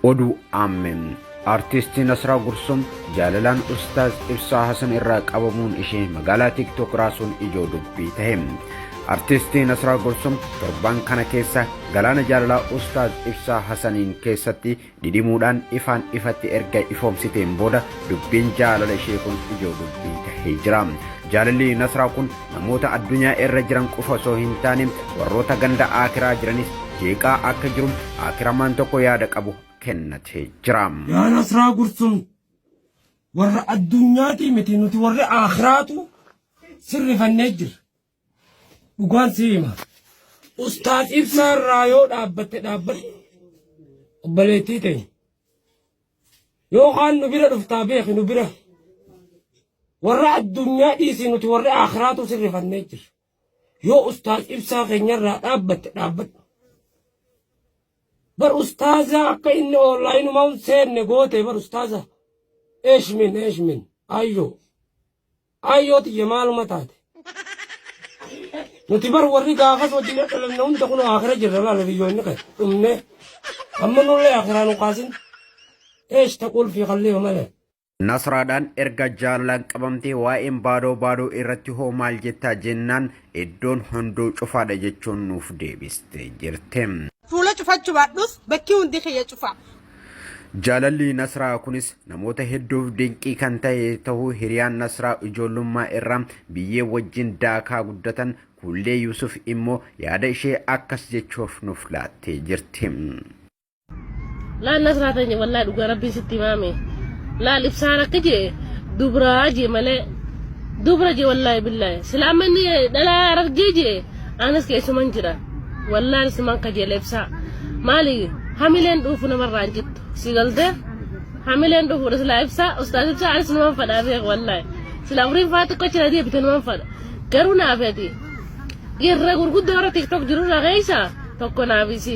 Oduu Aammeen Artiistii Nasraa Gursum jaalalaan Ustaaz Ibsaa Hasan irraa qabamuun ishee magaalaa TikTok raasuun ijoo dubbii tahe. Artiistii Nasraa Gursum torban kana keessa galaana jaalalaa Ustaaz Ibsaa Hasaniin keessatti dhidhimuudhaan ifaan ifatti erga ifoomsiteen booda dubbiin jaalala ishee kun ijoo dubbii tahee jira. Jaalalli Nasraa kun Namoota addunyaa irra jiran qofa osoo hin taane warroota ganda aakiraa jiranis jeeqaa akka jiru aakiramaan tokko yaada qabu kennatee jira. Yaa Nasraa Gursum warra addunyaatii miti nuti warri aakhiraatu sirrifannee jirra. Dhugaan si hima. Ustaaz Ibsaa irraa yoo dhaabbatte dhaabbatte obboleettii ta'e. Yoo kaan nu bira dhuftaa beeki nu bira. Warra addunyaa dhiisii nuti warri aakhiraatu sirrifannee jirra. Yoo ustaaz ibsaa keenyarraa dhaabbatte dhaabbadhu. Bar ustaazaa akka inni oonlaayinumaan seenne goote bar ustaazaa. Eeshmin eeshmin ayyoo. Aayyoo tiyya maaluma taate? Nuti bar warri gaafas wajjin dhalanne hunda kunoo akira jirra laala biyyoonni kee dhumnee amma nullee akiraa nu kaasin eesh taquul fi kalliima malee. Nasraadhaan erga jaalalaan qabamtee waa'een baadoo baadoo irratti hoo maal jettaa jennaan iddoon hunduu cufaadha jechuun nuuf deebiste jirte. Fuula cufachu baadhus bakki hundi kiyya cufa. Jaalalli Nasraa kunis namoota hedduuf dinqii kan ta'e ta'uu hiriyaan Nasraa ijoollummaa irraa biyyee wajjin daakaa guddatan Kuullee Yuusuf immoo yaada ishee akkas jechuuf nuuf laattee jirti. Laal Nasraa teenya wallaa dhugaa rabbiin sitti himaame. Laal ibsaan akka jee dubraa jee malee dubra jee wallaahi billaahi. Silaa amma inni dhalaa argee jee anas keessuman jira wallaan siman kajeela ibsaa maali hamileen dhuufu namarraa hin cittu si galte hamileen dhuufu silaa ibsaa ustaaz ibsaa anas numan fadhaa beek wallaahi silaa umriin faa xiqqoo jira deebite numan fadha garuu naafeeti irra gurguddoo irra tiktok jiru irra keessa tokko naafisi.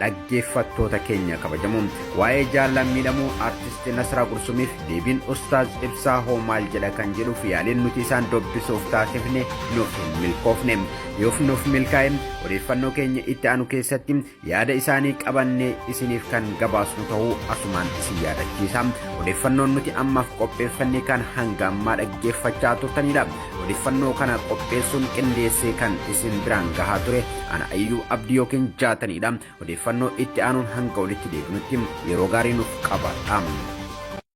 Dhaggeeffattoota keenya kabajamoo waa'ee jaallan miidhamuu artisti Nasraa Gursumiif deebiin Ustaaz Ibsaa hoo maal jedha kan jedhuuf yaaliin nuti isaan dubbisuuf taasifne nuuf hin milkoofne. Yoof nuuf milkaa'e odeeffannoo keenya itti aanu keessatti yaada isaanii qabannee isiniif kan gabaasnu ta'uu asumaan isin yaadachiisa. Odeeffannoon nuti ammaaf qopheeffanne kan hanga ammaa dhaggeeffachaa turtanidha. Odeeffannoo kana qopheessuun qindeessee kan isin biraan gahaa ture ana ayyuu abdii yookiin jaataniidha. Odeeffannoo itti aanuun hanga walitti deebinutti yeroo gaarii nuuf qabaadha.